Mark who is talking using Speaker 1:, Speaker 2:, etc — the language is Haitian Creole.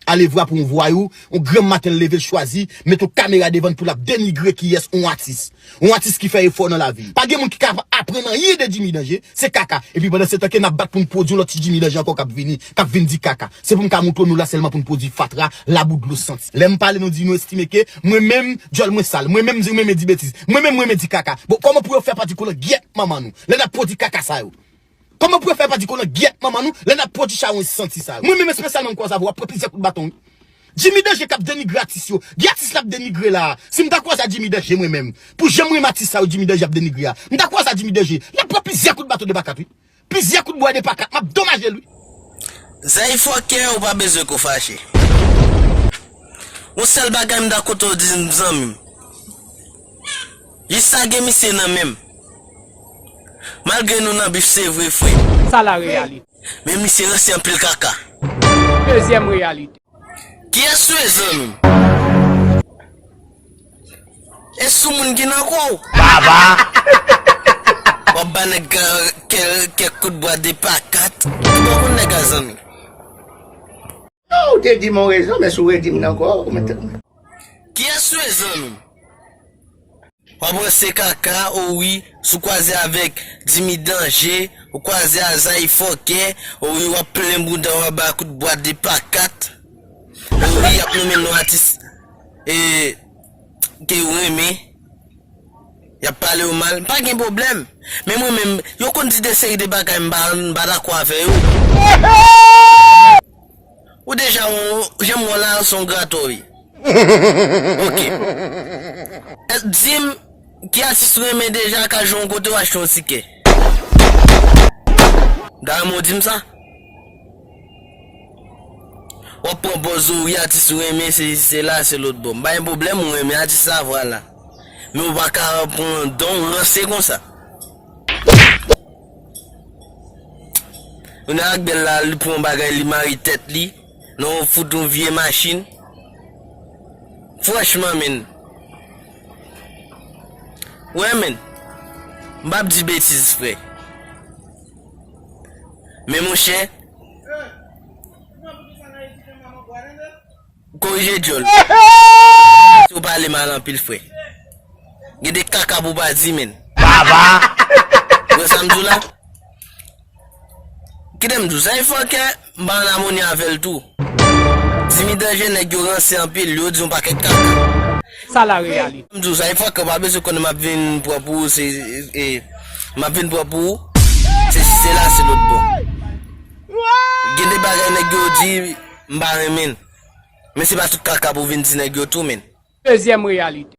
Speaker 1: Alevwa pou yon vwayou, yon granm maten l leve l chwazi met yon kamera devan l pou l ap denigre kiyès yon atis. Yon atis ki fè efò nan lavi l. Pa gen moun ki ka aprann anyen de Jimmy Danje, se kaka. Epi pandan se tan ke n ap bat pou n pwodui yon lòt ti Jimmy Danje ankò k ap vini, k ap vin di kaka. Se pou m ka montre w nou la sèlman pou n pwodui fatra, labou, dlo santi. Lè m pale nou di nou estime ke mwen menm djòl mwen sal, mwen menm m di m renmen di betiz, mwen menm m renmen di kaka. Bon kòman pou yo fè pa di koulè gyèt manman nou lè n ap pwodui kaka sa yo? Koman pou yo fè pa di konan gyèt manman nou lè nap pwodi chawony santi sa yo. Mwen menm espesyalman m kwaze avè w wap pran plizyè kout baton wi. Jimmy Danje kap denigre atis yo. Gen atis lap denigre la a. Si m ta kwaze a Jimmy Danje mwen menm. Pou jan m renmen atis sa yo Jimmy Danje ap denigre a. M ta kwaze a Jimmy Danje. Lap pran plizyè kout baton 2 pa 4 wi. Plizyè kout bwa 2 pa 4. Map domaje l wi. Zay
Speaker 2: fòkè ou pa bezwen ko fache. Yon sèl bagay m dakò to di m zanmi m. Lis sa gen misye nan menm. Malgre nou nan bif se vre frem. Sa la reyalite.
Speaker 3: Men misye ranse
Speaker 2: anpil kaka. Dezyem
Speaker 3: reyalite. Kiyes
Speaker 2: ou ye zanmim? E sou moun ki nan kou ou. Bavaa. Wap ba neg la kek kout bwa 2 pa 4. Ki bò kou neg la zanmim. Yow
Speaker 4: ou te dim yon rezon men si w redim l ankò ou mèt
Speaker 2: tèt mwen. Kiyes rezon nou? Wap ranse kaka ou wi si w kwaze avek Jimmy danje ou kwaze a Zaï fòkè ou wi wap plen bouda w aba kout bwa 2 pa 4 ou wi yap nonmen nou atis e ke ou renmen yap pale ou mal mpa gen pwoblèm men mwen menm yo konn di de seri de bagay mpa mpa dakò avè yo ou deja wè janm wè w la son grato wi ok dim ki atis ou renmen deja ka jwenn w kote ou achte yon tikè mta renmen w dim sa. Wap pran pòz ou wi atis ou renmen se isi se la se lòt bò m pa gen pwoblèm ou renmen atis la vwala men ou pa ka pran dan w ranse konsa Yon ak bèl la li pran yon bagay li mare tèt li nan yon fout yon vye machin franchman menn wè menn m pap di betiz frè. Men monchè Korije dyòl Menmsi ou pale mal anpil frè Gen de kaka pou w pa di menn Baba
Speaker 1: Ou wè
Speaker 2: sa m di w la Kite m di w sa e fòkè M pa an amoni avel tou. Dimy danje neg yo ranse anpil yo di yon paket kaka. Sa la
Speaker 3: realite. M di w sa e fake ou pa
Speaker 2: bezwen konnen map vin pran pou ou se e map vin pran pou ou se si se la se lot bò gen de bagay nèg yo di m pa renmin men se pa tout kaka pou vin di nèg yo tou min. Dezyèm reyalite.